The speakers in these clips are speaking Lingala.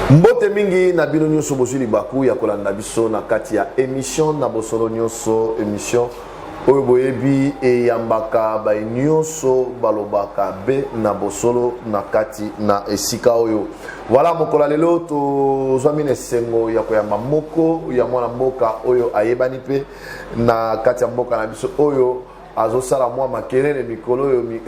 mbote mingi na bino nyonso bozwi libaku ya kolanda biso na kati ya emission na bosolo nyonso emission oyo boyebi eyambaka bai nyonso balobaka be na bosolo na kati na esika oyo voilà mokolo ya lelo tozwami na esengo ya koyamba moko ya mwana mboka oyo ayebani mpe na kati ya mboka na biso oyo azosala mwa makelele mikolo oyo mi...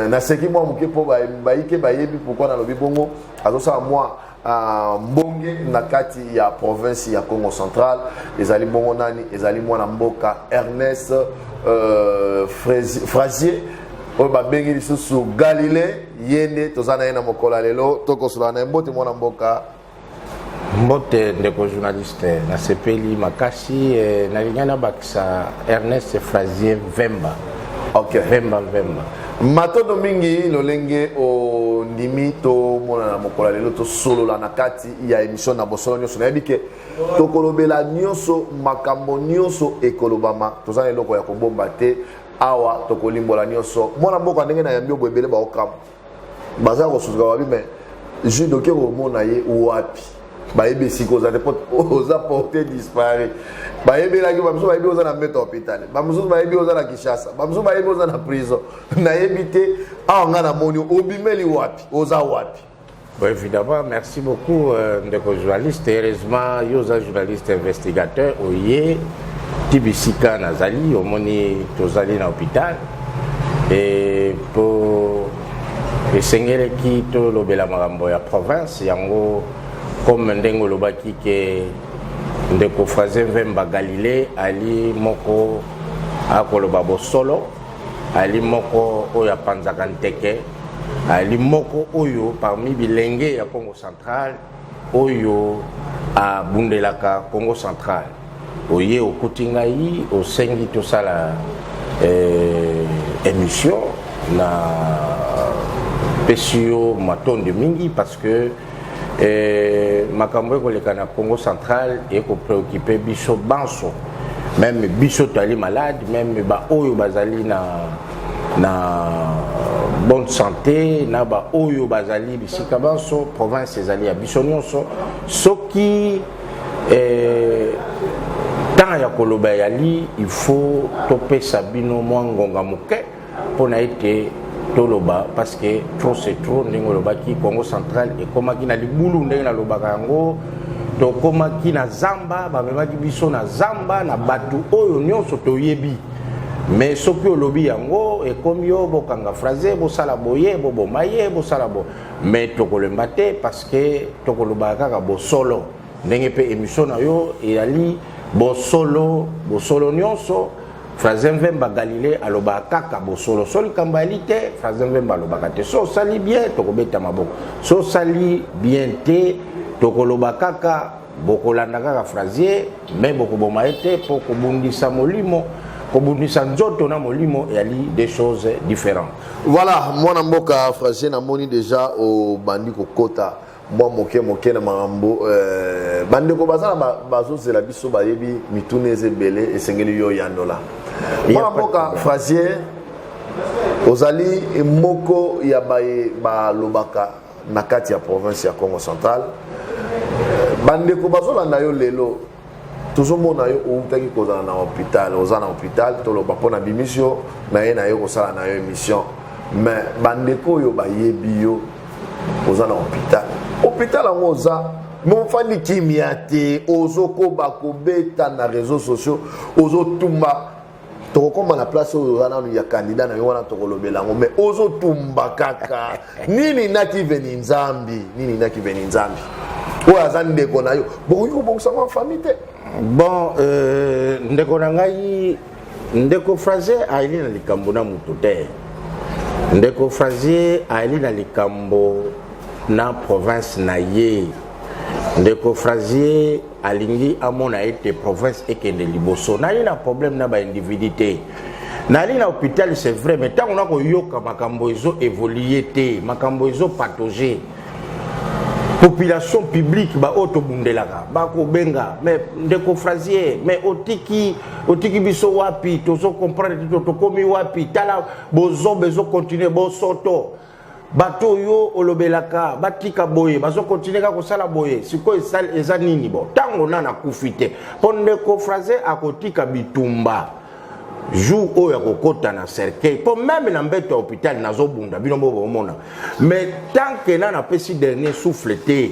naseki mwa moke mpo bayike bayebi pourkui nalobi bongo azosala mwa uh, mbonge na kati ya province ya congo central ezali bongo nani ezali mwana mboka ernest uh, frazier oyo babengi lisusu galilei ye nde toza na ye na mokolo ya lelo tokosola na ye mbote mwana mboka mbote ndeko journaliste nasepeli makasi eh, nalingai nabakisa ernest frazier vemba okay. vemba vemba matondo mingi lolenge ondimi tomona na mokolo ya lelo tosolola na kati ya emission na bosolo nyonso nayebi ke tokolobela nyonso makambo nyonso ekolobama toza na eloko ya kobomba te awa tokolimbola nyonso mwana mboka ndenge na yambi obo ebele baokamwa baza kosusuka wapi mais jude oke komona ye wapi bayebi esika oza te oza porte dispari bayebelaki bamosusu bayebi oza na mbeto hôpital bamosusu bayebi oza na kinshasa bamosusu bayebi oza na prison nayebi te awa ngai namoni obimeli wapi oza wapi Bon, évidemment, merci beaucoup, euh, ndeko journaliste. Heureusement, yo oza journaliste investigateur, oye tibisika nazali, omoni tozali na hôpital. Et pour esengeleki tolobela makambo ya province yango comme ndenge olobaki ke ndeko fraze vemba galilée ali moko akoloba bosolo ali moko oyo apanzaka nteke ali moko oyo parmi bilenge ya congo central oyo abundelaka congo central oye okuti ngai osengi tosala eh, émission na pesi yo matondo mingi parce que Eh, makambo ekoleka na congo central ekopreocupe biso banso meme biso toali malade meme baoyo bazali na, na bonne santé na baoyo bazali bisika banso province ezali ya biso nyonso soki eh, ntango ya koloba eyali il faut topesa bino mwa ngonga moke pona ete toloba parce que trop c'est trop ndenge olobaki congo central ekomaki na libulu ndenge nalobaka yango tokomaki na zamba bamemaki biso na zamba na bato oyo nyonso toyebi me soki olobi yango ekomi yo bokanga fraze bosala boye boboma ye bosala bo me tokolemba te parce que tokolobaka kaka bosolo ndenge mpe emission na yo eyali bosolo bosolo nyonso fraze mvemba galile alobaka kaka bosolo so likambo yali te fraze mvemba alobaka te so osali bien tokobeta maboko so osali bien te tokoloba kaka bokolanda kaka frazier me bokoboma ye te mpo kobundisa molimo kobundisa nzoto na molimo eyali des choses différentes voilà mwana mboka frazier namoni déjà obandi kokota mwa moke moke na makambo eh, bandeko baza na bazozela biso bayebi mituna eza ebele esengeli yo yanola mwana mboka frasier ozali moko ya baye balobaka na kati ya province ya congo central bandeko bazolanda yo lelo tozomona yo outaki kozala na hôpital oza na hôpital toloba mpo na bimisi yo na ye na yo kosala na yo émission mais bandeko oyo bayebi yo oza na hôpital hôpital yango oza mofandi kimia te ozokoba kobeta na réseau sociaux ozotumba tokokoma na place oyo oza nanu ya kandida na yo wana tokolobela yango mais ozotumba kaka nini naki veni nzambi nini naki veni nzambi oyo aza ndeko na yo bokoki kobongisa ngo famille te bon euh, ndeko na ngai ndeko frazier ayeli na likambo na moto te ndeko frazier ayeli na likambo na province na ye ndeko frazier alingi amona ete province ekende liboso nali na problème na baindividu te nali na hôpital c'est vrai mais ntango nakoyoka makambo ezo évolue te makambo ezo patoge population publique baoyo tobundelaka bakobenga mais ndeko frasier mais otiki otiki biso wapi tozo comprendre te tokomi wapi tala bozoba ezokontinue bosoto bato oyo olobelaka batika boye bazokontinue kaka kosala boye sikoyo eza nini bo ntango na nakufi te mpo ndeko fraise akotika bitumba jour oyo akokɔta na cercueil mpo meme na mbeto ya hôpital nazobunda bino bo bomona mais tant que na napesi dernier souffle te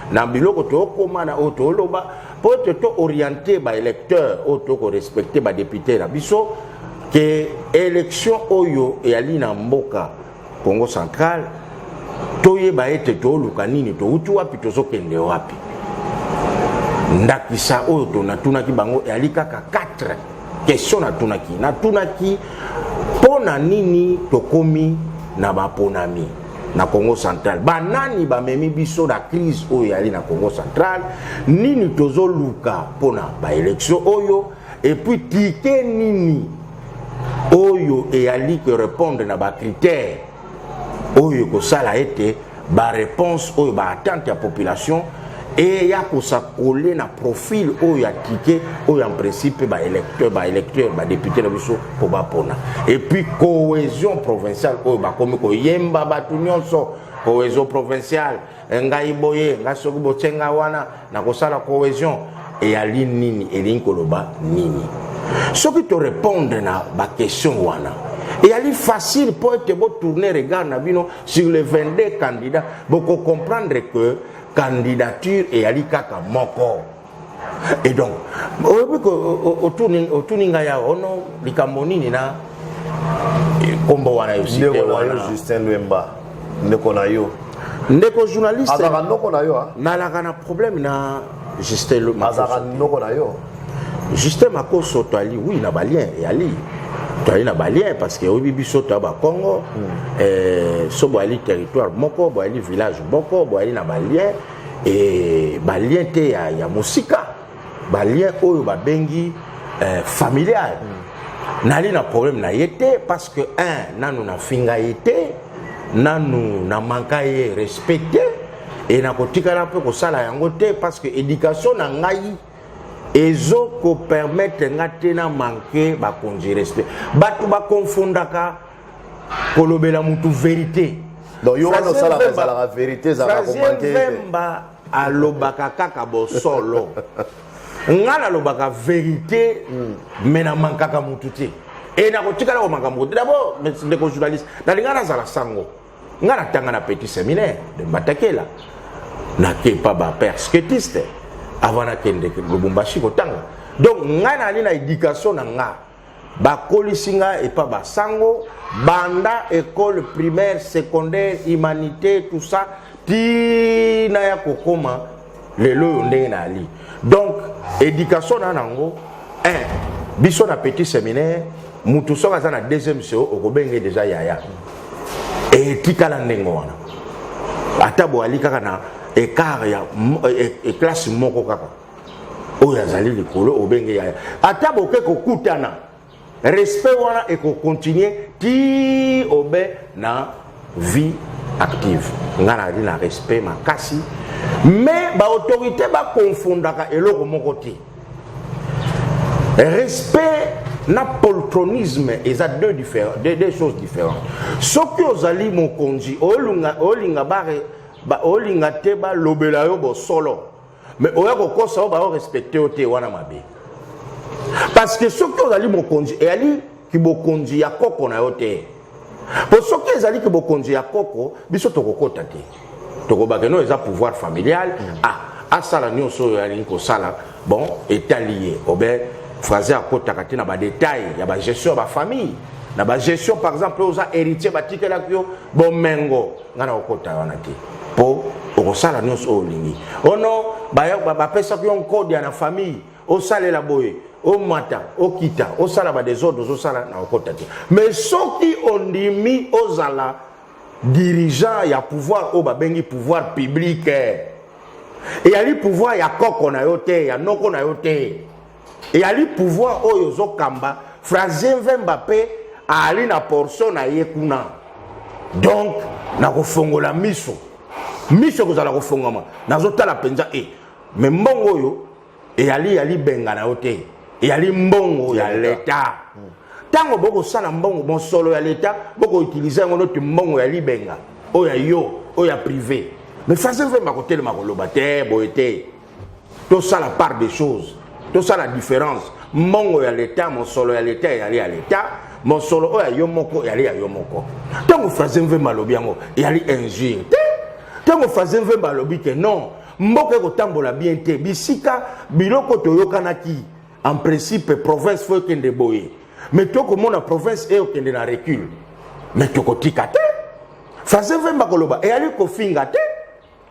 na biloko tokoma na oyo toloba mpo ete to oriente baélecteur oyo tokorespecte badepute na biso ke élection oyo eyali na mboka congo central toyeba ete toluka nini touti wapi tozokende wapi ndakisa oyo tonatunaki bango eyali kaka 4 question natunaki natunaki mpo na nini tokomi na baponami na congo central banani bamemi biso na crise oyo eyali na congo central nini tozoluka mpo na baelektio oyo epuis tike nini oyo eyali korepondre na bakritere oyo ekosala ete bareponse oyo baattente ya population eya kosakole na profil oyo ya tike oyo en principe baélecteur baélecteur badepute na biso mpo bapona epuis cohésion provinciale oyo bakomi koyemba bato nyonso cohésion provinciale eh, ngai boye ngai soki botye ngai wana nakosala cohésion eyali nini elingi koloba nini soki torépondre na baquestion wana eyali facile mpo ete botourne regard na bino sur les 22 candidats bokocomprendre que candidature eyali kaka moko et donc oyebi otuni ngai awa ono oh likambo nini na nkombo wana yo site wana justin lwemba ndeko na yo ndeko journaliste azalaka noko na yo nalaka na problème na justin lwemba azalaka noko na yo Justin Makoso toali oui na balien yali toali na balien parce que oyebi biso toya bakongo mm. eh, so boyali territoire moko boyali village moko boyali na balien e balien te ya, ya mosika balien oyo babengi eh, familial mm. nali na problème na ye te parce que un nanu nafinga ye te nanu na manka ye respect te e nakotikala mpe kosala yango te parce que éducation na ngai ezo ko permettre nga te na manque bakonzi respect bato bakonfondaka kolobela motu verité donc yo wana osalaka ezalaka verité ezalaka komanke vemba alobaka kaka bosolo nga nalobaka verité me na mankaka motu te e nakotikala komaka motu dabord ndeko journaliste nalinga nazala sango nga natanga na petit seminaire de mbatakela nakepa ba persketiste avant nakende lubumbashi kotanga donc ngai nali na éducation na nga bakolisi nga epa basango banda école primaire secondaire humanité tout ça tina ya kokoma lelo oyo ndenge nayali donc éducation na nango un biso na petit séminaire mutu soki aza na deuxième seo okobenge deja yaya etikala ndenge wana ata boyali kaka na écart ya e, e, classe moko kaka oyo azali likolo obenge yaya ata boke kokutana respect wana eko continuer ti obe na vie active nga nazali na respect makasi mais baautorité bakonfondaka eloko moko te respect na poltronisme eza deux, diffère, deux, deux choses différentes soki ozali mokonzi olinga, olinga, bare, ba, olinga te balobela yo bosolo me oya kokosa oyo bao respecte yo te wana mabe parce que soki ozali mokonzi eyali kibokonzi ya koko na yo te mpo soki ezali kibokonzi ya koko biso tokokota te tokobake no eza pouvoir familial mm. ah asala nyonso oyo alingi kosala bon etali ye obe fraze akotaka te na badetail ya bagestion ya bafamille na bagestion par exemple oza héritier batikelaki yo bomengo nga nakokota wana te mpo okosala nyonso oyo olingi ono oh bapesaki yo nkode ya na famille osalela boye omata okita osala badesordre ozosala na okota te mais soki ondimi ozala dirigeant ya pouvoir oyo babengi pouvoir public eyali pouvoir ya koko na yo te ya noko na yo te eyali pouvoir oyo ezokamba francien vemba mpe aali na portion na ye kuna donc nakofongola miso miso ekozala kofongama nazotala mpenza e eh, me mbongo oyo eyali yali benga na yo te eyali mbongo ya leta ntango bokosala mbongo bonsolo ya leta bokoutilize yango noti mbongo ya libenga oyo ya yo oyo ya prive me francien vemba kotelema koloba te boye te tosala part des choses tosala différence mbongo ya leta mosolo ya leta eyali ya leta mosolo oyo ya yo moko eyali ya yo moko ntango fraze mvemba alobi yango eyali injure te ntango fraze mvemba alobi te non mboka ekotambola bien te bisika biloko toyokanaki en principe province fo ekende boye me tokomona province eyokende na recule me tokotika te fraze mvemba koloba eyali kofinga te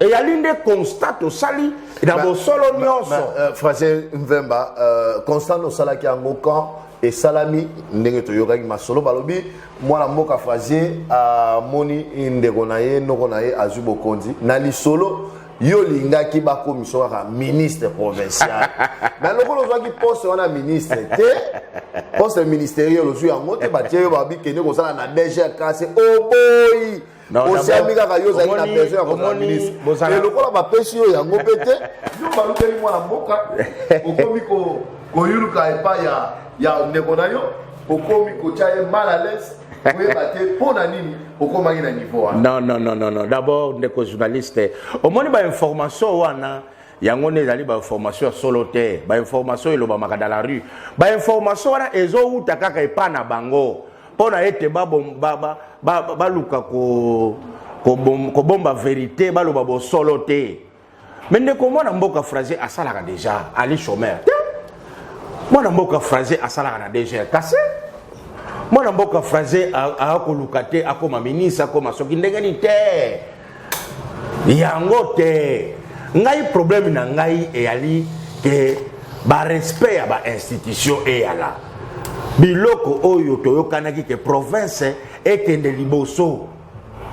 eyali nde constat tosali na bosolo nyonso euh, français mvemba euh, constat nosalaki yango quand esalami ndenge toyokaki masolo balobi mwana mboka frazier amoni ndeko na ye noko na ye azwi bokonzi na lisolo yo olingaki bakomisa kaka ministre provincial me lokola ozwaki poste wana ministre te poste ministeriel ozwi yango te batie yo babi kende kosala na dgrkc oboyi oh osiami kaka yo ozali na besoin ya kozala ministre eh, lokola bapesi yo yango mpe te yo balukeli mwana mboka okomi koyuluka epai ya ndeko na yo okomi kotya ye mal à l'aise koyeba te mpo na nini okomaki na niveau wana non non non non non d'abord ndeko journaliste omoni bainformation wana yango nde ezali bainformation ya solo te bainformation elobamaka dans la rue bainformation wana ezowuta kaka epai na bango mpo na ete baluka kobomba verite baloba bosolo te me ndeko mwana mboka fraise asalaka deja ali chomeur te mwana mboka fraise asalaka na dgr kasi mwana mboka fraise aakoluka te akoma ministre akoma soki ndenge nini te yango te ngai problème na ngai eyali ke barespect ya bainstitution eyala biloko oyo toyokanaki ke province ekende liboso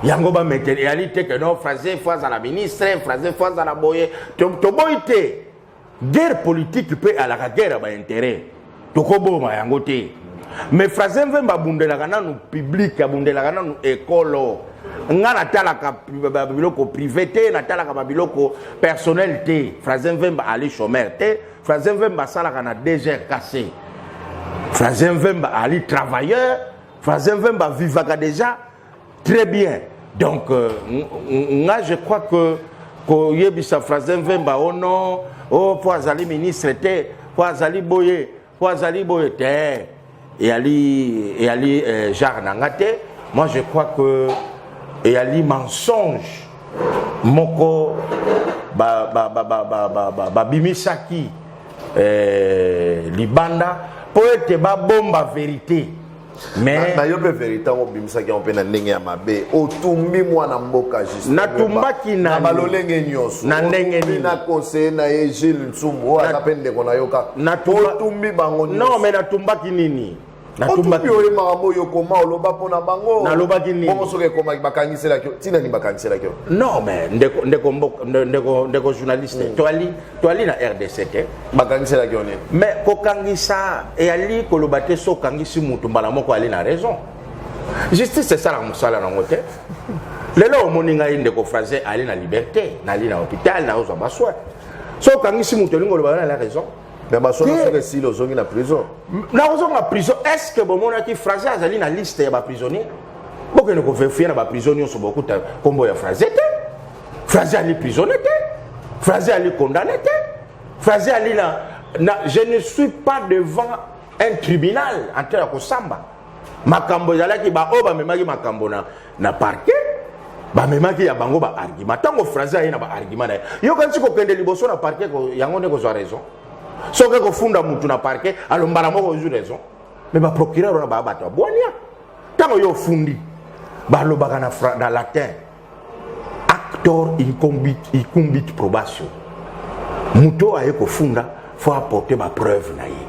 yango bametele eyali te ke no français fo azala ministre français fo azala boye toboyi te guerre politique mpe alaka guerre ya bainteret tokoboma yango te mais fraze mvemba abundelaka nanu publike abundelaka nanu ekolo nga natalaka babiloko privé te natalaka babiloko personnel te fraze mvemba ali chomeur te fraze mvemba asalaka na dgrkc fraze mvemba ali travailleur fraze mvemba avivaka déjà Très bien. Donc, euh, nga je crois que koyebisa Frazen Vemba oh non, oh po azali ministre te, po azali boye, po azali boye te. Eyali eyali euh, genre na nga te. Moi je crois que eyali mensonge moko ba ba ba ba ba ba, ba, ba bimisaki euh, libanda po ete babomba verite mais nayo mpe verité yango obimisaki yango mpe na ndenge ya mabe otumbi mwana mboka juste natumbaki na balolenge nyonso na ndenge nini na conseiller na ye Gilles Nsumbu oyo aza mpe ndeko na yo kaka otumbi bango nyonso non mais natumbaki nini natumbaki oyo makambo oyo okoma oloba mpo na bango nalobaki nini bongo soki ekomaki bakangiselaki yo ntina nini bakangiselaki yo non mais ndeko ndeko ndeko ndeko journaliste hmm. toali toali na rdc te bakangiselaki yo nini mais kokangisa eyali koloba te so okangisi motu mbala moko ali na raison justice esalaka mosala nango te lelo omoni ngai ndeko fraise ali na liberté nali na hôpital naozwa baswin so okangisi motu elingi oloba na la raison na basolo soki esili ozongi na prison nakozonga prison est ce que bomonaki fraise azali na liste ya baprisonnier bokende koverifie na baprison nyonso bokuta nkombo ya fraise te fraze ali prisonnier te fraze ali condamné te fraze ali na, na je ne suis pas devant un tribunal en train ya kosamba makambo ezalaki baoyo bamemaki makambo na, na parquet bamemaki ya bango baargima ntango fraze aye na baargima na ye yokanisi kokende liboso na parquet yango nde kozwa raison soki kofunda motu na parquet alombala moko ozwi raison me baprocureur wana baya bato ya bwania ntango yo ofundi balobaka na, na latin actor incumbit, incumbit probation moto oyo aye kofunda fo apporte bapreuve na ye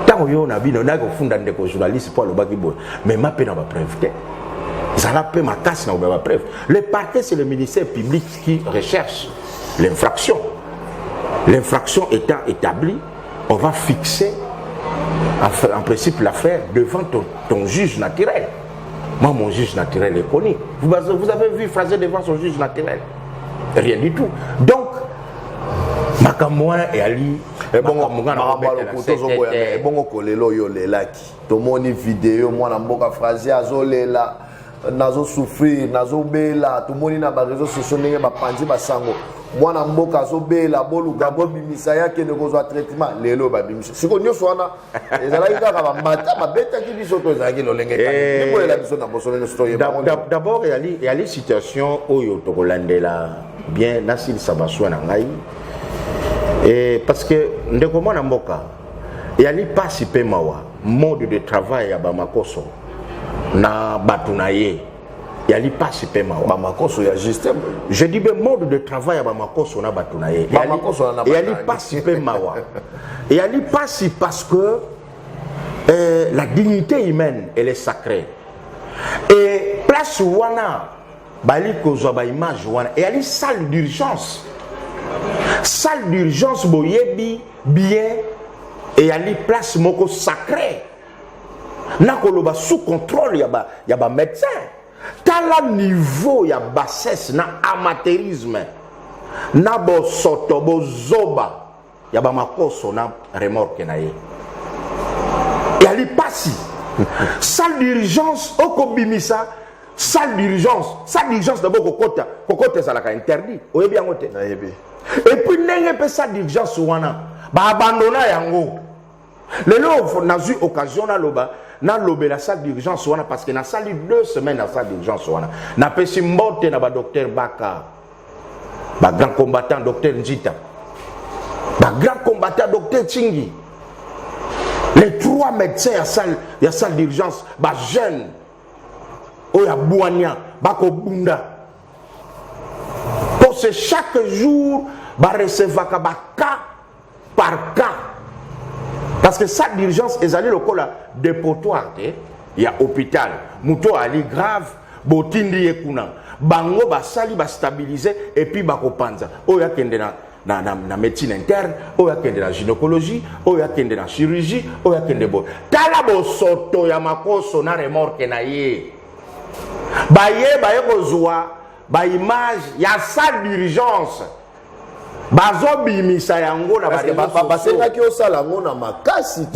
ntango yo na bino nayaki kofunda ndeko journaliste mpo alobaki boye mema mpe na bapreuve te zala mpe makasi na kobeba bapreuve le parquet c'est le ministère public qui recherche l'infraction l'infraction étant établie on va fixer en, en principe l'affaire devant ton, ton juge naturel Moi, mon juge naturel est connu. Vous, vous avez vu Fraser devant son juge naturel Rien du tout. Donc, makambo wana eyali ebongo kolela oyo olelaki tomoni video mwana mboka frasie azolela nazosouffrir nazobela tomoni na bareseau sociaux ndenge bapanzi basango mwana mboka azobela boluka bobimisa ye akende kozwa traitement lelo babimisa siko nyonso wana ezalaki kaka bamata babetaki biso to ezalaki lolenge kanibolela eh, biso na bosolo nyonso toyebadabord yali situation oyo tokolandela bien nasilisa baswa na ngai eh, parce que ndeko mwana mboka yali mpasi mpe mawa mode de travail ya bamakoso na bato na ye ya lipasi mpe mawa bamakoso ya justin je dis be mode de travail ya bamakoso na bato na ye ya lipasi mpe mawa ya lipasi parce que euh, la dignité humaine elle est sacrée et place wana bali kozwa baimage wana eyali salle d'urgence salle d'urgence boyebi bien eyali place moko sacrée nakoloba sous contrôle ya ba, ya ba médecin tala niveau ya bassesse na amateurisme na bosoto bozoba ya bamakoso na remorke na ye yali pasi salle d'urgence okobimisa salle d'urgence salle d'urgence nabo kokota kokota ezalaka interdit oyebi yango te epuis ndenge mpe salle d'urgence wana baabandona yango lelo nazwi occasion naloba nalobela salle d'urgence wana parce que nasali deux semaines na salle d'urgence wana napesi mbote na badocteur baka bagrand combattant docteur njita bagrand combattant docteur chingi les trois médecins ya salle, ya salle d'urgence bajeune oyo abwania bakobunda mpo se chaque jour barecevaka baka par cas parce que salle d'urgence ezali lokola depotoire te ya hôpital moto oyo ali grave botindi ye kuna bango basali bastabilize epuis bakopanza oyo akende na na, na, na médecine interne oyo akende na gynécologie oyo akende na chirurgie oyo akende boye tala bosoto ya makoso na remorke na ye baye baye kozwa baimage ya salle d'urgence bazobimisa yango na basengaki osala yango na makasi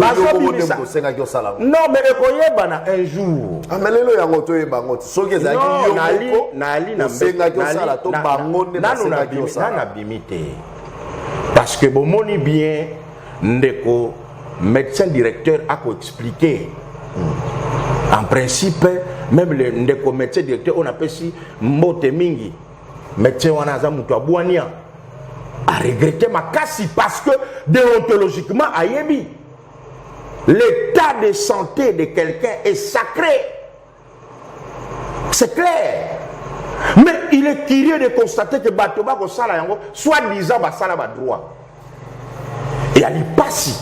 tosengaki osala yango non mais ekoyebana un jour ame ah, lelo yango toyeba yango soki ezalaki yoosengaki osala to bango nde basengaki osala nanu abimi te parce que bomoni bien ndeko médecin directeur akoexplike hmm. en principe même le ndeko médecin directeur oyo napesi mbote mingi Médecin wana aza mutu ya bwania. A regretter makasi parce que déontologiquement ayebi l'état de santé de quelqu'un est sacré. C'est clair. Mais il est curieux de constater que bato bakosala yango soit disant basala ba droit. ya lipasi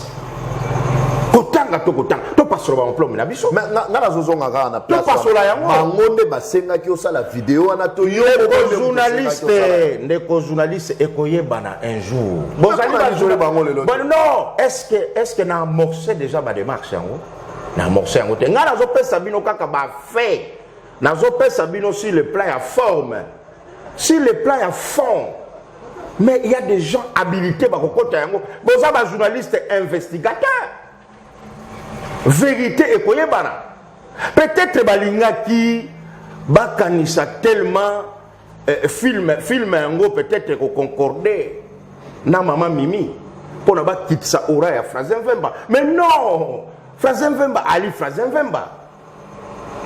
kotanga to kotanga topasola bamplome na biso nga nazozonga kaka na topasola yango bango nde basengaki osala video wana to journaliste ndeko journaliste ekoyebana un jour bozali bango lelo non est ce que est ce que na amorce déjà badémarche yango na amorce yango te ngai nazopesa bino kaka bafait nazopesa bino sur le plan ya forme sur le plan ya fond mais il y a des gens habilités bakokota yango boza ba journaliste investigateur vérité ekoyebana peut-être balingaki bakanisa tellement eh, film film yango peut-être ekoconcorde na mama mimi mpo na bakitisa ora ya fraze mvemba mais non fraze mvemba ali fraze mvemba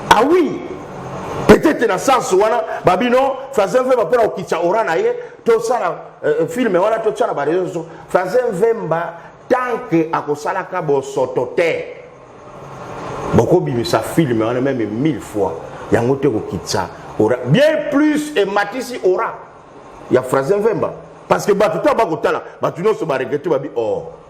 ah oui peut-être na sens wana babi non français mvemba mpona kokitisa ora na ye tosala euh, filme wana totya na bareseau nyonso français mvemba tant que akosalaka bosoto te bokobimisa filme wana meme mille fois yango te kokitisa ora bien plus ematisi ora ya français mvemba parce que bato ntango bakotala bato nyonso baregrete babi or oh.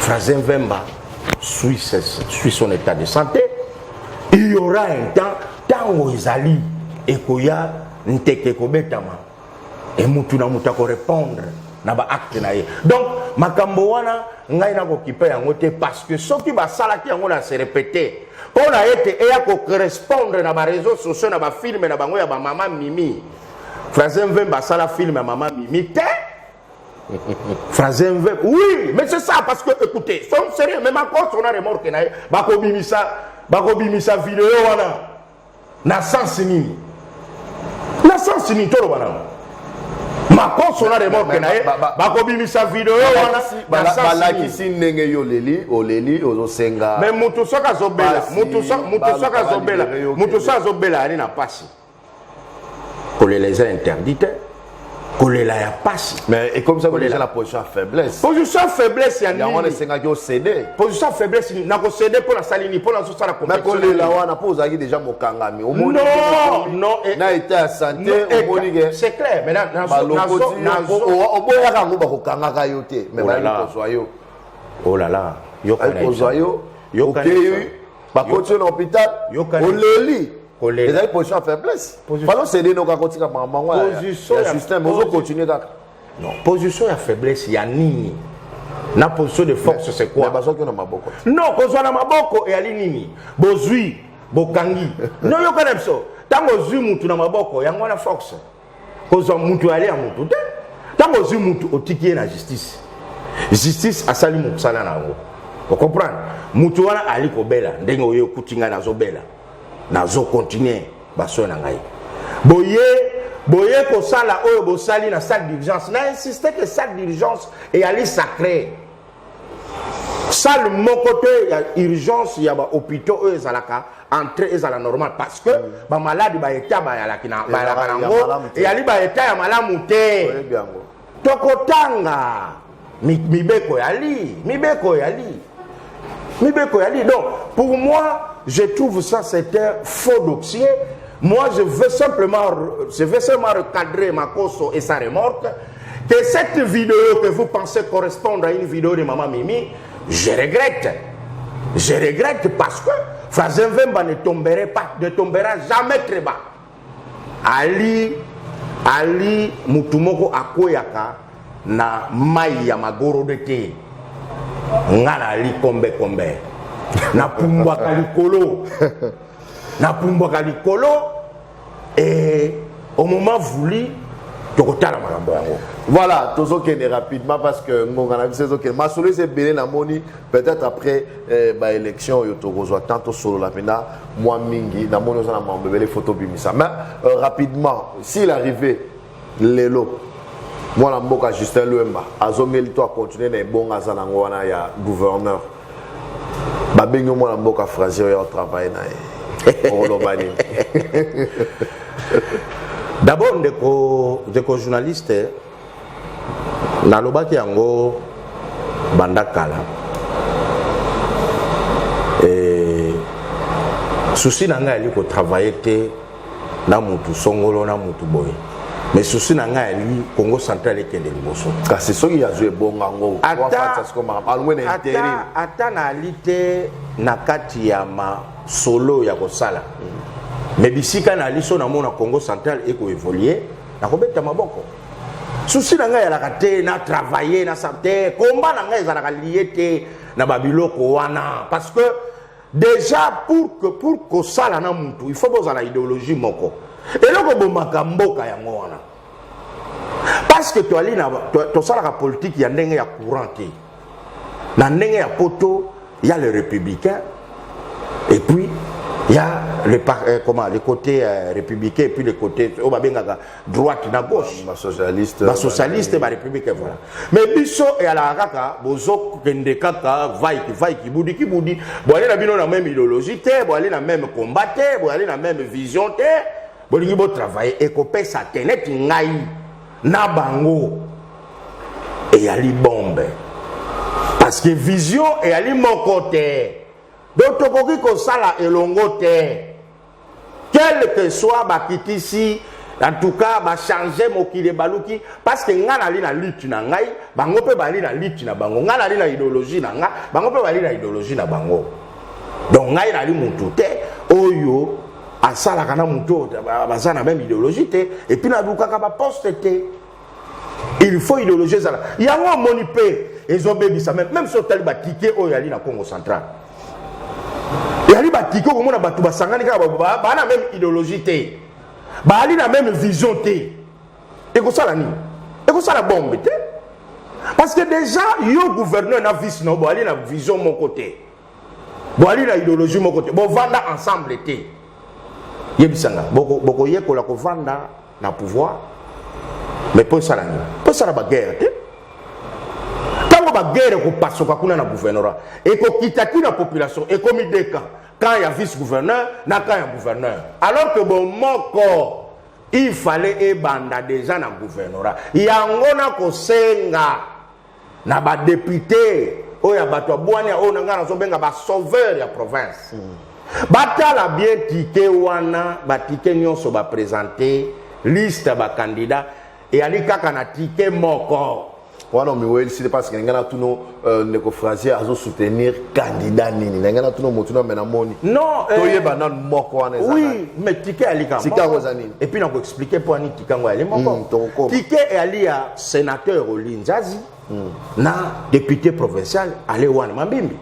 Frazen Vemba suit, suit son état de santé. Il y aura un temps, tango ezali ekoya nteke kobetama et mutu na mutu répondre na ba acte na ye. Donc makambo wana ngai nakokipe yango te parce que soki basalaki yango na se répéter mpo na ete eya kocorrespondre na bareseau sociaux na bafilme na bango ya bamama mimi francin vemba asala filme ya mama mimi te Phrase inverse. Oui, mais c'est ça, parce que, écoutez, soyons sérieux, même encore, on a remorque, bako bimisa, bako bimisa vidéo, wana, na sens nini. Na sens nini, tolo wana. Macron, on a remorque, na ye, bako bimisa vidéo, wana, na sens nini. Balakisi ndenge yo leli, oleli, ozo senga. Mais mutu soka zobela, mutu soka zobela, mutu soka zobela, ani na pasi. kolela eza interdit te kolela ya pasi mais ekomisa kolela na position ya faiblesse position ya faiblesse ya nini yango wana esengaki osede position ya faiblesse nini nakosede mpo nasali nini mpo nazosala kolela wana mpo ozalaki deja mokangami eh, na etat ya sante eh, omoni ke c'est clair mais oboyaka yango bakokangaka yo te mais oh bayi kozwa yo olala oh kozwa yo okei bakoti yo na hôpital oleli kolela ezali position ya faiblesse Position- falo sede noka kotika mango ya- Position ya ya- système ozo posi- continue kaka non position ya faiblesse ya nini na position de force c'est Mais quoi bazwaki yo na maboko te. non kozwa na maboko eyali nini bozwi bokangi noyoka na biso ntango ozwi mutu na maboko yango wana force kozwa mutu yale ya mutu te ntango ozwi mutu otiki ye na justice justice asali mosala na yango okomprendre mutu wana ali kobela ndenge oye okuti ngai nazobela nazokontinue basoin na ngai boye boye kosala oyo bosali na salle d'urgence na insiste ke salle d'urgence eyali sacre salle moko te ya urgence ya ba hôpitaux oyo ezalaka entrée ezala normal parce que mm. ba malade ba état bayalaki na bayalaka nango eyali ba état ya malamu te tokotanga mibeko yali mibeko yali mibeko yali donc pour moi je trouve ça c'est un faux dossier moi je veux simplement je veux seulement recadrer makoso et sa remorque Que cette vidéo que vous pensez correspondre à une vidéo de Maman Mimi, je regrette. Je regrette parce que Frazen Vemba ne tomberait pas, ne tombera jamais très bas. Ali, Ali Mutumoko Akoyaka na mai ya magoro de te. Nga na Ali kombe kombe. Na pumbwaka likolo. Na pumbwaka likolo. et au moment voulu tokotala makambo yango voilà tozokende rapidement parce que ngonga na biso ezokende masolo eza ebele namoni peut-être après eh, baélection oyo tokozwa temps tosolola mpena mwa mingi namoni oza na mambo ebele fo tobimisa mais euh, rapidement s'il arrivé lelo mwana mboka justin luemba azongeli to akontinue na ebonga aza nango wana ya gouverneur babengi mwana mboka fraser oyo atravaille na ye okoloba nini d'abord ndeko ndeko journaliste nalobaki yango banda kala e, susi na ngai ali kotravaille te na mutu songolo na mutu boye mais souci na ngai alingi congo central ekende liboso kasi soki azwi ebonga yango ata naali te na kati ya masolo ya kosala mais bisika naali so namona congo central ekoevolue nakobeta maboko souci na ngai ezalaka te na travaille na sa te komba na ngai ezalaka lie te na babiloko wana parce que dejà pour que pour kosala na mutu il faut bozala ideologie moko eloko bomaka mboka yango wana parce que toali na tosalaka politique ya ndenge ya courant te na ndenge ya poto ya le républicain et puis ya le, euh, comment, le côté euh, républicain et puis le côté oyo babengaka droite na gauche ba socialiste ba socialiste ba république voilà mais biso ya la kaka bozo kende kaka vai ki vai ki budi ki budi bo aller na bino na même idéologie te bo aller na même combat te bo aller na même vision te bo lingi bo travailler et ko pesa te net ngai na bango et ya li bombe parce que vision et ya li moko te donc tokoki ko sala elongo te quelque soit bakitisi en tout cas bachange mokili ebaluki parce que ngai nali na lutte na ngai bango mpe bali na lutte na bango ngai nali na idéologie na ngai bango mpe bali na idéologie na bango donc ngai nali mutu te oyo asalaka na moto baza na meme idéologie te epuis nalukaka baposte te il faut idéologie ezala yango omoni mpe ezobebisa meme meme so otali batike oyo yali na congo central yali batike okomona bato basangani kaka baa na meme idéologie te baali na meme vision te ekosala nini ekosala bombe te parce que déjà yo gouverneur na vice na yo boali na vision moko te boali na ideologie moko te bovanda ensemble te yebisa nga bokoyekola boko kovanda na pouvoir mais mpo esala nini mpo esala baguerre te ntango baguerre ekopasuka kuna na gouvernorat ekokita ti na population ekomi deux camp camp ya vice gouverneur na camp ya gouverneur alors que bomoko il fallait ebanda deja na gouvernorat yango nakosenga na ba députés oyo ya bato ya bwania oyo na ngai nazobenga ba sauveur ya province mm. batala bien tike wana batike nyonso bapresente liste ya bakandida eyali kaka na tike moko wana omiwelisi te parce que ndenge natuno euh, ndeko frazier azosoutenir candidat nini ndenge natuno motu na me namoni non euh, toyeba nano moko wana oui mais tike ya likambo tike yango eza nini epuis nakoexplike mpo ani tike yango yali moko hmm, tike eyali ya senateur oli nzazi mm. na député provincial ale wana mambimbi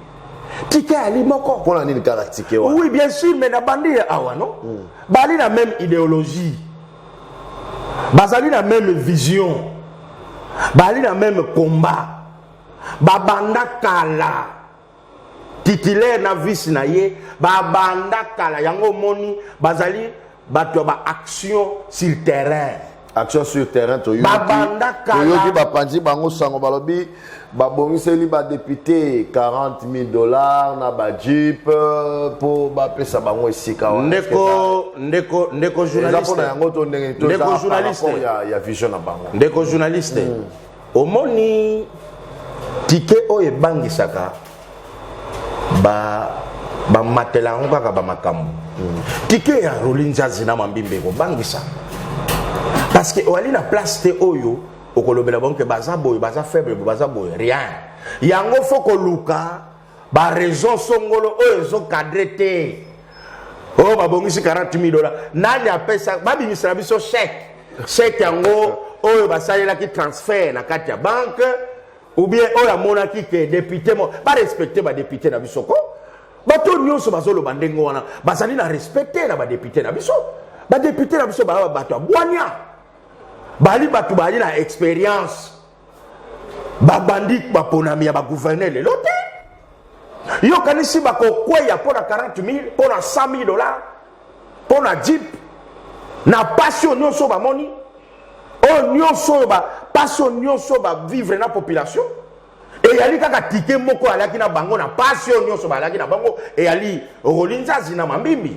tike ali moko mpona nini kaka tike wana oui bien sûr mais nabandi ye awa no mm. bali na même idéologie bazali na même vision bali na même combat babanda kala titulaire na vice na ye babanda kala yango omoni bazali bato ya baaction sur terrain action sur terrain toyoki bapanzi bango sango balobi babongiseli badepute 40 000 dollars na bajeep mpo euh, bapesa bango esika ndeko ndeko ndeko journaliste mpona yango to ndenge ya vision na bango ndeko journaliste mm. omoni tike oyo ebangisaka bamatela yango kaka bamakambo tike ya roli nzazi na mambimba ekobangisa parceke oyali na place te oyo okolobela bango ke baza boye baza faible baza boye rien yango fo koluka ba raison songolo oyo ezo cadre te oyo oh, babongisi 40 mille dola nani apesa babimisela biso chèque chèque yango oyo basalelaki transfert na kati ya banke ou bien oyo amonaki ke depute mo barespecte badepute na biso ko bato nyonso bazoloba ndenge wana bazali na respect te na badepute na biso badepute na biso baa bato ya bwania bali bato bali na experience babandi baponami ya bagouverneur lelo te yokanisi bakokweya mpo na 40 000 mpo na 100 000 dollar mpo na jip na mpasi oyo nyonso oyo bamoni oyo nyonso oyo mpasi oyo nyonso oyo bavivre na population eyali kaka tike moko alaki na bango na mpasi oyo nyonso balaki na bango eyali rolinzazi na mambimbi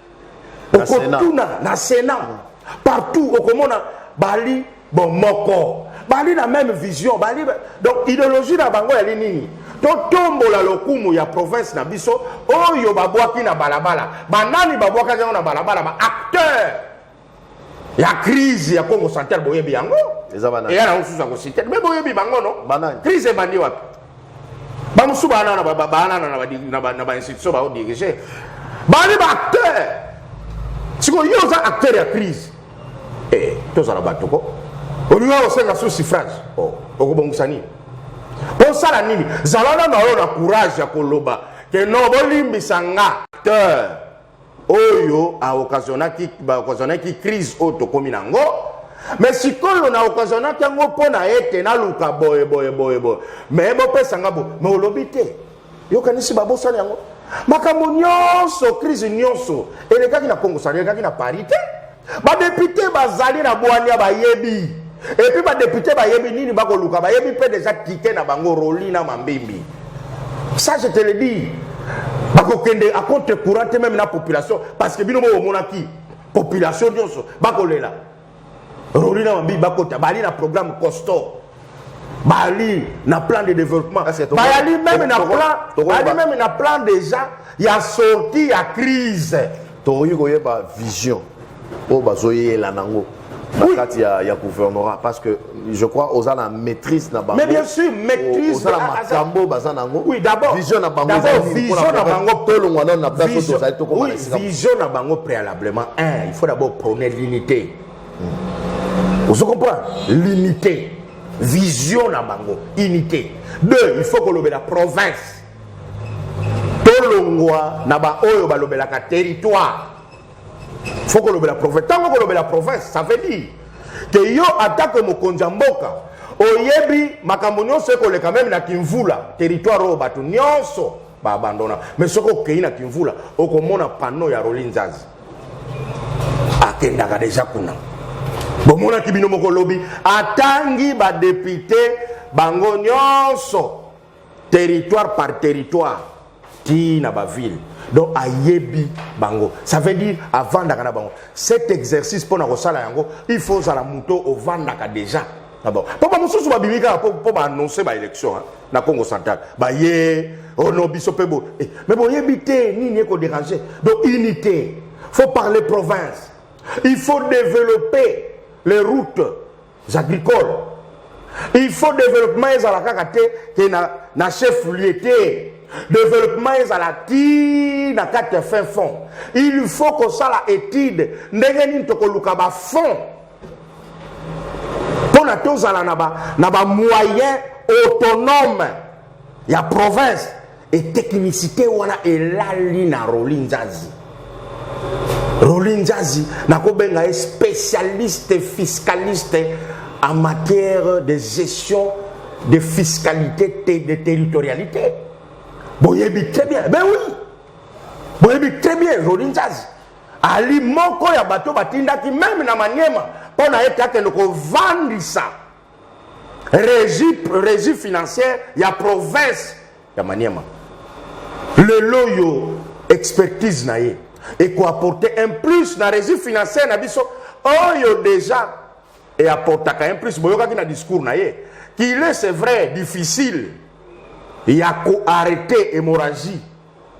okotuna na sena partout okomona bali bomoko bali na même vision bali donc idéologie na bango yali nini totombola lokumu ya province na biso oyo babwaki na balabala banani babwakaki yango na balabala ba acteur ya crise ya congo central boyebi yango Eza ba nani? eya na mosusu ya kosite me boyebi bango no Ba nani? crise ebandi wapi bamosusu baana na ba- ba- baana na ba- na ba- na bainstitution baodirige bani baacteur sikoyo yo oza acteur ya crise Eh, tozala bato ko olinga osenga su suffrage Oh, okobongisa nini osala nini zala na na yo na courage ya koloba ke no bolimbisa nga acteur oyo a occasionaki ba occasionaki crise oyo tokomi na ngo me sikoyo na occasionaki yango mpo na ete naluka boye boye boye boye me bopesa nga bo me olobi te yokanisi babosani yango makambo nyonso crise nyonso elekaki na kongo sani elekaki na paris te Badepute bazali na bwania, bayebi epuis badepute bayebi nini bakoluka, bayebi mpe deja kite na bango roli na mambimbi. Ça je te le dis, bakokende a contre courant te meme na population parce que bino bomonaki population nyonso bakolela roli na mambimbi bakota bali na programme costaud Bali na plan de développement. Bali même na plan, bali même na plan déjà ya sortie ya crise. Tokoki koyeba vision oyo bazoyela nango na oui. kati ya, ya gouvernorat parce que je crois oza na maîtrise na bango mais bien sûr maîtrise oza na makambo baza nango oui, d'abord vision na bango vision na bango tolongwa nano na place oyo tozali tokoma oui, vision na bango préalablement un il faut d'abord prôner l'unité ozo comprendre l'unité vision na bango unité deux il faut kolobela province tolongwa na baoyo balobelaka territoire faut kolobela province ntango kolobela province ça veut dire ke yo atako mokonzi ya mboka oyebi makambo nyonso ekoleka meme na kimvula territoire oyo bato nyonso ba abandona mais soki okei na kimvula okomona pano ya roli nzazi akendaka deja kuna bomonaki bino moko lobi atangi badepute bango nyonso territoire par territoire ti na bavile donc ayebi bango ça veut dire avandaka na bango cet exercice mpo na kosala yango il faut ozala moto ovandaka déjà Ah bon. Mpo bamosusu babimi kaka mpo baannonce baélection na congo central baye ono oh biso mpe bo eh, mais boyebi te nini ekoderange donc unité faut parler province il faut développer les routes agricoles il faut développement ezala kaka te ke na, na chef lieu te développement ezala ti na kati ya fin fond il faut kosala étude ndenge nini tokoluka bafond mpo na tozala na bamoyen ba autonome ya province eteknisite wana elali na roli nzazi roli nzazi nakobenga ye spécialiste fiscaliste en matière de gestion de fiscalité te de territorialité boyebi très bien mais oui boyebi très bien roli nzazi Ali moko ya bato batindaki meme na Maniema mpo na ete akende kovandisa régie, régie financière ya province ya Maniema. Lelo yo expertise na ye ekoapporte un plus na régie financière na biso oyo déjà eapportaka un plus boyokaki na discours na ye qu'il est c'est vrai difficile ya koarrete hémorragie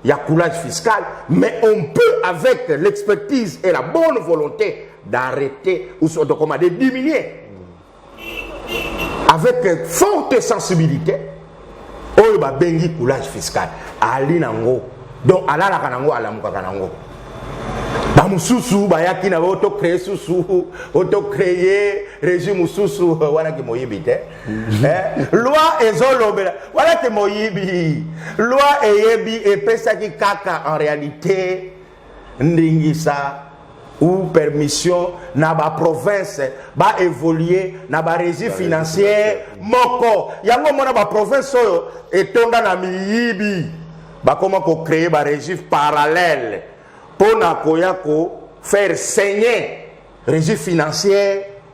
Il y a coulage fiscal, mais on peut, avec l'expertise et la bonne volonté, d'arrêter ou soit de diminuer. Avec forte sensibilité, oyo babengi coulage fiscal ali nango donc alalaka nango alamukaka nango bamosusu bayaki na oto créer susu oto créer régime mosusu wana kimoyibi te Eh, loi ezolobela wana te moyibi loi eyebi epesaki kaka en réalité ndingisa ou permission na baprovince baévolue na barégie financière moko yango omona baprovince oyo etonda na miyibi bakoma kocreye barégie parallèle mpo na koya ko faire saigner régie financière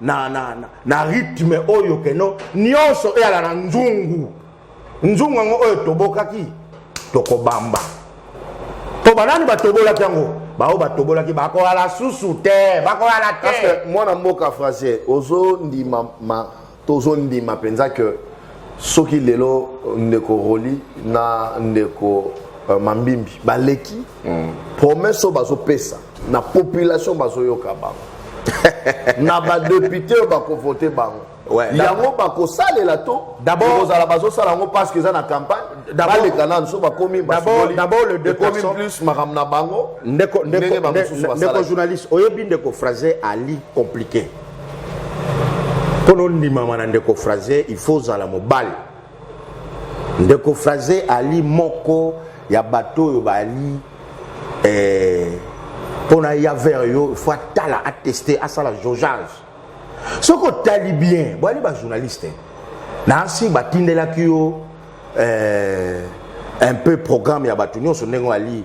na, na, na, na rythme oyo keno nyonso eyala na nzungu nzungu yango oyo tobokaki tokobamba mpo banani batobolaki yango baoyo batobolaki bakoyala susu te bakoyala te mwana mboka français ozondima ma tozondima mpenza ke soki lelo ndeko roli na ndeko uh, mambimbi baleki mm. promesse oyo bazopesa na population bazoyoka bango na badepute oyo bakovote bango ouais, yango bakosalela to kozala bazosala yango parce que eza na campagne baleka nanu so bakomi bakomi plus makambo na bango ndeko journaliste oyebi ndeko français ali compliqué mpo na ondimama na ndeko fraze il faut ozala mobali ndeko fraze ali moko ya bato oyo bali eh, mpo na ya vers yo faut atala ateste asala jaugeage soki otali bien boyali bajournaliste nasi batindelaki yo eh, un peu programme ya bato nyonso ndenge ali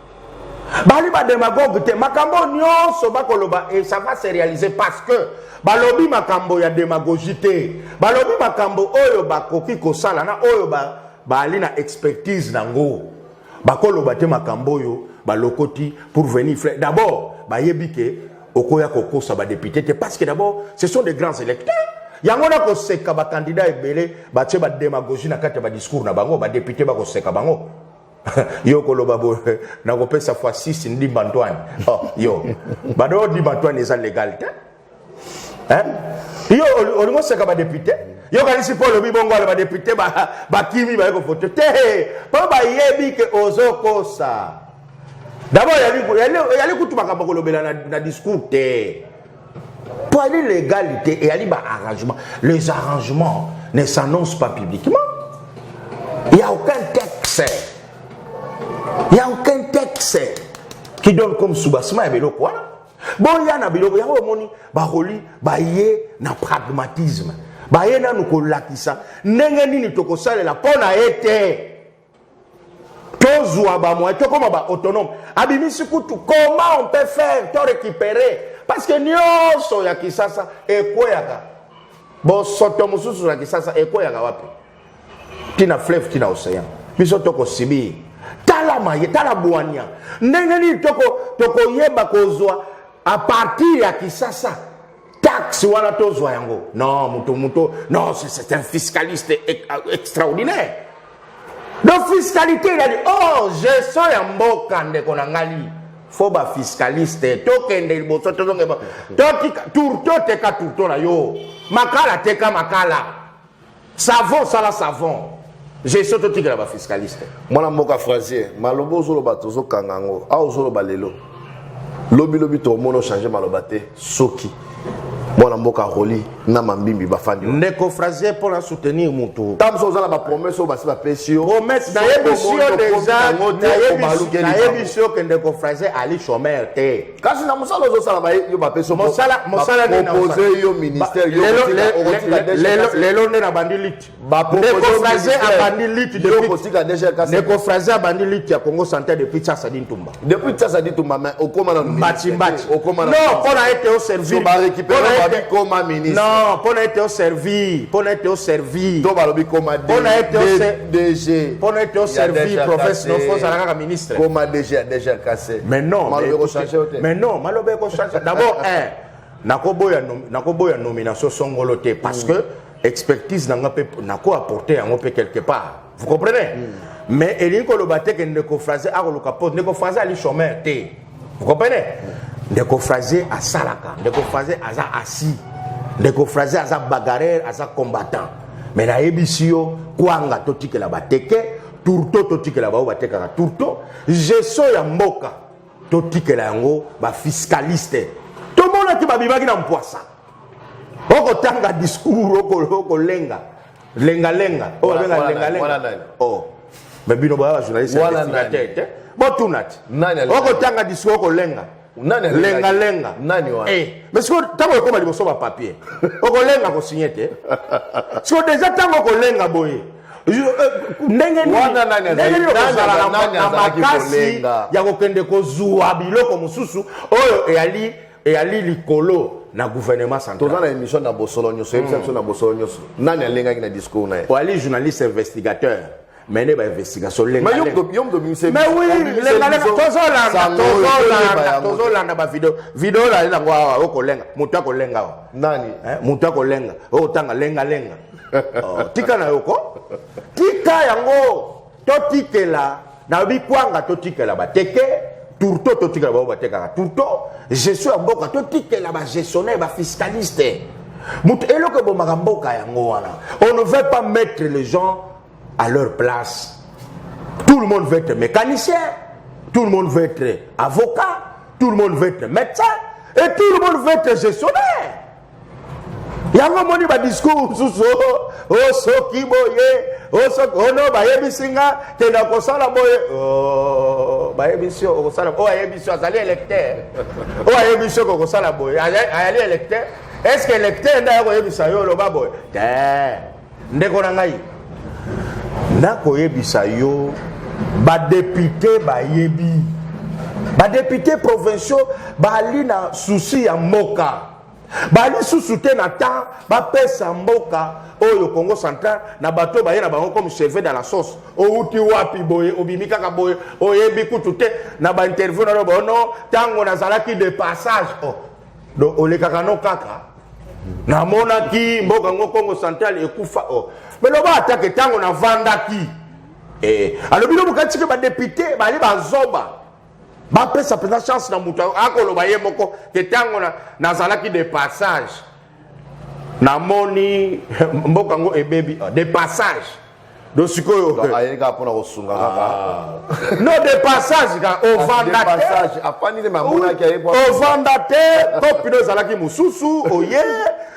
bali ba demagogue te makambo nyonso bakoloba et ça va se réaliser parce que balobi makambo ya demagogie te balobi makambo oyo bakoki kosala na oyo baali na expertise na ngo bakoloba te makambo oyo balokoti pour venir frais d'abord bayebi ke okoya kokosa badepute te parce que d'abord ce sont des grands électeurs yango na koseka bakandidat ebele batie bademagogie na kati ya badiscours na bango badepute bakoseka bango yo koloba bo na ko pesa fois 6 ndimba Antoine oh yo bado ndimba Antoine eza legal te hein yo olingo seka ba député yo kanisi po lobi bongo ala ba député ba ba kimi ba ko voter te po ba yebi ke ozo kosa d'abord yali yali yali kutu makambo kolobela na, na discours te Pwali legalite eyali ba arrangement. Les arrangements ne s'annoncent pas publiquement. Il n'y a aucun texte. Il n'y a aucun texte qui donne comme soubassement ya biloko wana. Boya na biloko yango omoni bakoli baye na pragmatisme. Baye nanu kolakisa ndenge nini tokosalela mpo na ye te. tozwa bamoyen tokoma baautonome abimisi kutu comment on peut faire to récupérer parce que nyonso ya kisasa ekweyaka bosoto mosusu na kisasa ekweyaka wapi ntina fleuve ntina océan biso tokosibir tala maye tala bwania ndenge nini tokoyeba kozwa a partir ya kisasa taxe wana tozwa yango non moto moto non c'est un fiscaliste euh, extraordinaire donc fiscalité elali or gestion ya mboka ndeko na ngai fo bafiscaliste tokende liboso tozonge totika tour toteka tourto na yo makala teka makala Savon sala savon. Gestion totikela ba fiscaliste. Mwana mboka Frazier, maloba ozoloba tozokanga yango. Awa ozoloba lelo. Lobi lobi tokomono changer maloba te soki mwana mboka roli na mambimbi bafandi ndeko frazier mpo na soutenir motu ntango mosusu oza na bapromese oyo basi bapesi yo promese nayebisi yo deja nayebisi yo ke ndeko frazier ali chomeur te kasi na mosala ozosala baye yo bapesi mosala mosala nini propose yo ministère yo lelo lelo nde nabandi lite ndeko fraze abandi lite yo kotika déjà kasi ndeko fraze abandi lite ya Congo santé depuis Tsasa Dintumba depuis Tsasa Dintumba mais okoma na mbati mbati okoma na non pona ete o servir ba récupérer ba bikoma ministre non pona ete o servir pona ete o servir to balobi koma pona ete o DG. Mpo na ete oservi province no fo ozala kaka ministre. Koma DG ya deja kase. Mais non. Maloba ekochange yo te. Mais non, maloba ekochange. D'abord, un, nakoboya nakoboya nomination songolo te parce mm. que expertise na nga mpe nako apporter yango mpe quelque part. Vous comprenez? Mm. Mais elingi koloba te ke ndeko français akoluka poste. Ndeko français ali chômeur te. vous comprenez ndeko frazier asalaka ndeko frazier aza asi ndeko frazier aza bagarreur aza combattant me nayebisi yo kwanga totikela bateke tourto totikela baoyo batekaka tourto geso ya mboka totikela yango bafiskaliste tomonaki babimaki na mpwasa okotanga discour okolenga Lenga lenga. Oh, Wana- lenga wana lenga nani? Wana lenga. nani? Oh. Mais bino ba journaliste Wana investigateur nani? te. Bo tunati. Nani alenga? Oko tanga discours ko lenga. Nani alenga? Lenga lenga. Nani wana? Eh, mais siko tango ekoma liboso ba papier. Oko lenga ko signer te. Siko déjà tango ko lenga boye. Je- eh, ndenge nini Wana nani azali- ndenge nini nani okozala aza- na- nani na azalaki makasi kolenga? ya kokende kozua biloko mosusu oyo eyali eyali likolo na gouvernement central toza na émission na bosolo nyonso yebisa biso na bosolo nyonso nani alengaki na discours na ye oyali journaliste investigateur mais nde bainvestigation lengatozolanda bavideo video olali nango awa okolenga moto akolenga awa nani eh, moto akolenga okotanga lengalenga oh, tika na yoko tika yango totikela nalobi kwanga totikela bateke tourto totikela bango batekaka tourto gestion ya mboka totikela bagestionnaire bafiscaliste moto eloko ebomaka mboka yango wana on ne veut pas mettre les gens à leur place tout le monde veut être mécanicien tout le monde veut être avocat tout le monde veut être médecin et tout le monde veut être gestionnaire yango omoni badiskur mosusu osoki oh, oh, boye osoki oh, ono bayebisi nga kenda kosala boye bayebisi okosala oyo ayebisi azali électeur oyo ayebisi oko kosala boye ayali électeur est ce que électeur nde akoyebisa yo oloba boye te ndeko na ngai nakoyebisa yo badepute bayebi badepute provinciaux bali na susi ya mboka bali susu te na temps bapesa mboka oyo congo central na bato baye na bango comme cheve dans la sauce outi wapi boye obimi kaka boye oyebi kutu te na bainterview na yo bono ntango nazalaki de passage o oh. donc olekaka no kaka namonaki mboka yango congo central ekufa o oh. me loba atake ntango navandaki eh, alobi no bokati ke badepute bali bazoba bapesa mpenza chance na moto akoloba ye moko te ntango nazalaki de passage namoni mboka yango ebebi oh, de passage do sikoyo Donc, ayeli kaka mpona kosunga kaka no de passage ka Kasi de ovanda te passage afandi nde mamonaki aye po ovanda te topino ezalaki mosusu oye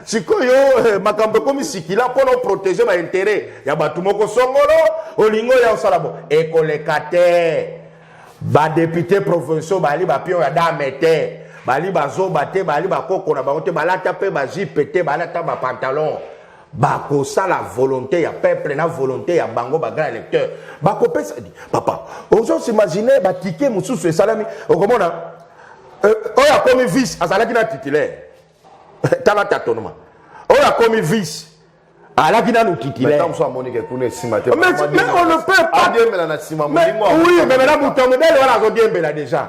sikoyo eh, makambo ekomi sikila mpo na oprotege baintere ya bato moko songolo olingi oya osala bo ekoleka te badepute provinciaux bali bapion ya dame te bali bazoba te bali bakoko na bango te balata mpe bajipe te balata bapantalon bakosala volonté ya peuple na volonté ya bango bagrand électeur bakopesa papa ozosi imagine batike mosusu esalami okomona euh, oyo akomi vice azalaki na titulaire tala tatonoma oyo akomi vice alaki nanu titulaire mais on ne peut pas oui mais maintenant moto ya mobele wana azodiembela déjà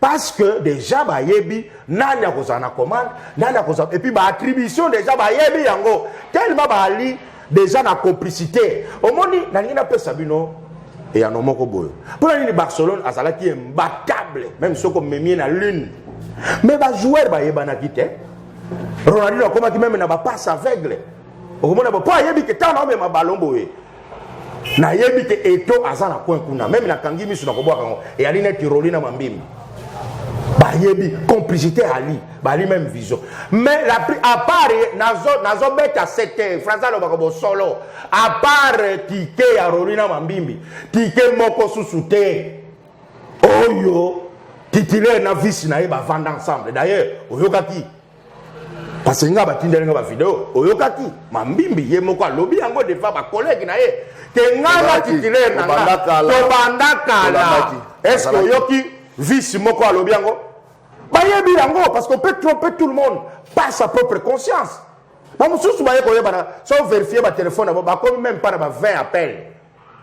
parce que déjà bayebi nani akozala na commande nani akozala epuis baattribution déjà bayebi yango tellement baali déjà na complicité omoni nalingi napesa bino eyano moko boye mpo na nini barcelone azalaki imbatable meme soki omemie na lune mais bajoueur bayebanaki te ronaldino akomaki meme na bapasse aveugle okomona mpo ayebi ke ntango naomema balon boye nayebi te eto aza na coin kuna meme nakangi miso na kobwaka yango eyali neti roli na mambimi bayebi complicité ali bali même vision mais la plus à part nazo beta sete français alobaka bosolo à part tike ya roli na mambimbi tike moko susu te oyo titulaire na vice na ye bavanda ensemble d'ailleurs oyokaki parce que nga batindeli nga bavideo oyokaki mambimbi ye moko alobi yango devant bakolege na ye ke ngai na titulaire na nga tobanda kala estce oyoki vice moko alobi yango bayebi yango parce qu'on peut tromper tout le monde par sa propre conscience bamosusu baye koyebana so verifie batelefone yango bakomi meme mpa na ba 20 appel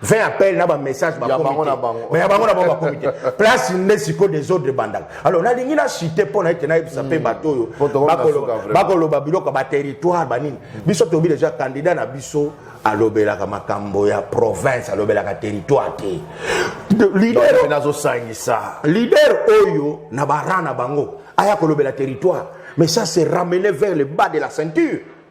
20 appel na ba message ba bango na bango mais bango na bango ba comité place nde siko des autres bandaka alors na lingi na cité mpo na ete na yebisa pe hmm. bato oyo bakoloba biloko ba territoire ba nini biso tobi déjà candidat na biso alobelaka makambo ya province alobelaka territoire te leader nazosangisa leader oyo na bara na bango aya kolobela territoire mais ça c'est ramener vers le bas de la ceinture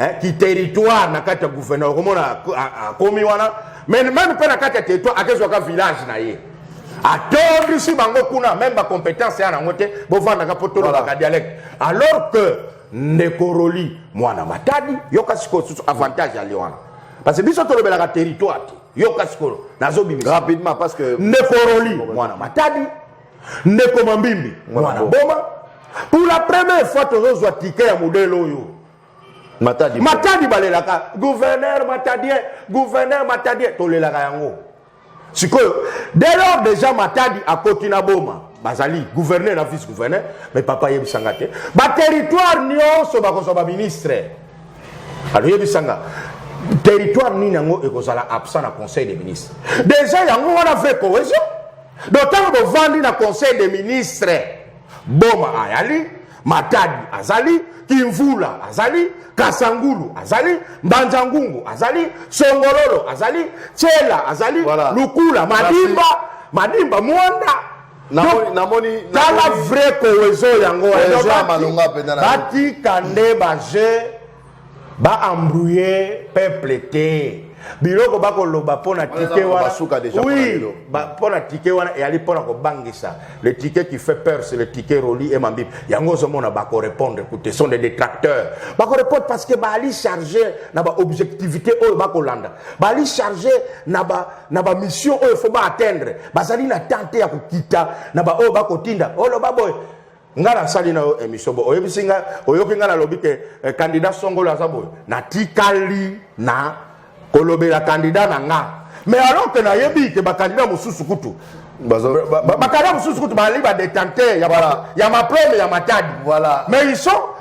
eh, kiterritoire na kati ya gouverneur okomona akomi wana meme mpe na kati ya territoire akezwaka village na ye atondisi bango kuna meme bacompétence ya nango te bovandaka mpo tolobaka dialecte alors que ndeko roli mwana matadi yoka sikoyo susu avantage ya lio wana parce que biso tolobelaka territoire te yoka sikoyo nazobimisa rapidement parce que ndeko roli mwana matadi ndeko mambimbi mwana boma pour la première fois tozozwa tike ya modele oyo matadi matadi balelaka gouverneur matadien gouverneur matadien tolelaka yango sikoyo dès lors déjà matadi akoti na boma bazali gouverneur na vice gouverneur mais papa ayebisa nga te baterritoire nyonso bakozwa baministre aloyebisa nga territoire nini yango ekozala absent na conseil des ministres déjà yango wana vrai cohésion donc ntango bovandi na conseil des ministres boma ayali Matadi azali, Kimvula azali, Kasangulu azali, Mbanjangungu azali, Songololo azali, Chela azali, voilà. Lukula, Madimba, Madimba, Mwanda namoni tala vrai cohesion yango batika nde baje ba embrouiller peuple te biloko bakoloba mpo na tike wana oui mpo na tike wana eyali mpo na kobangisa le tike qui fait peur c'est le tike roli et mambibi yango ozomona bakorépondre kute sont des détracteurs bakorépondre parce que baali charge na baobjectivité oyo bakolanda baali charge na bamission ba oyo fo baatteindre bazali na temps te ya kokita na baoyo bakotinda oloba boye nga nasali na yo emission boye oyebisi nga oyoki nga nalobi ke eh, candidat songolo aza boye natikali na kolobela candidat na nga mais alors ke nayebi ke bacandidat mosusu kutu bacandidat mosusu kutu bazali badetenteur ya maplome ya matadi mais ils sont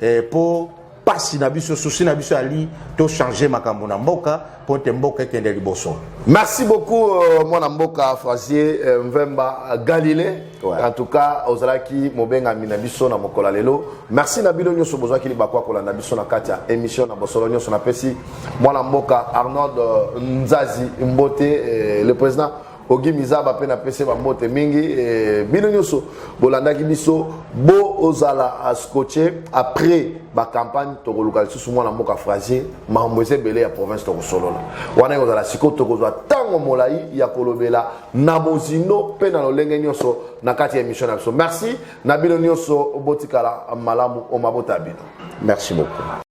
eh, po pasi na biso susi na biso ali to changer makambo na mboka po te mboka ekende liboso merci beaucoup euh, mwana mboka francier euh, mvemba euh, galilée ouais. en tout cas ozalaki mobengami na biso na mokolo ya lelo merci na bino nyonso bozwaki libaku ya kolanda biso na kati ya émission na bosolo nyonso napesi mwana mboka arnold euh, nzazi mbote euh, le président ogi mizaba mpe napesi bambote mingi e, bino nyonso bolandaki biso bozala ascoche après bacampagne tokoluka lisusu mwana mboka frasie makambo eza ebele ya province tokosolola wana ekozala sikoyo tokozwa ntango molai ya kolobela na bozindo mpe na lolenge nyonso na kati ya émission na biso merci na bino nyonso botikala malamu omabota bino merci beaucoup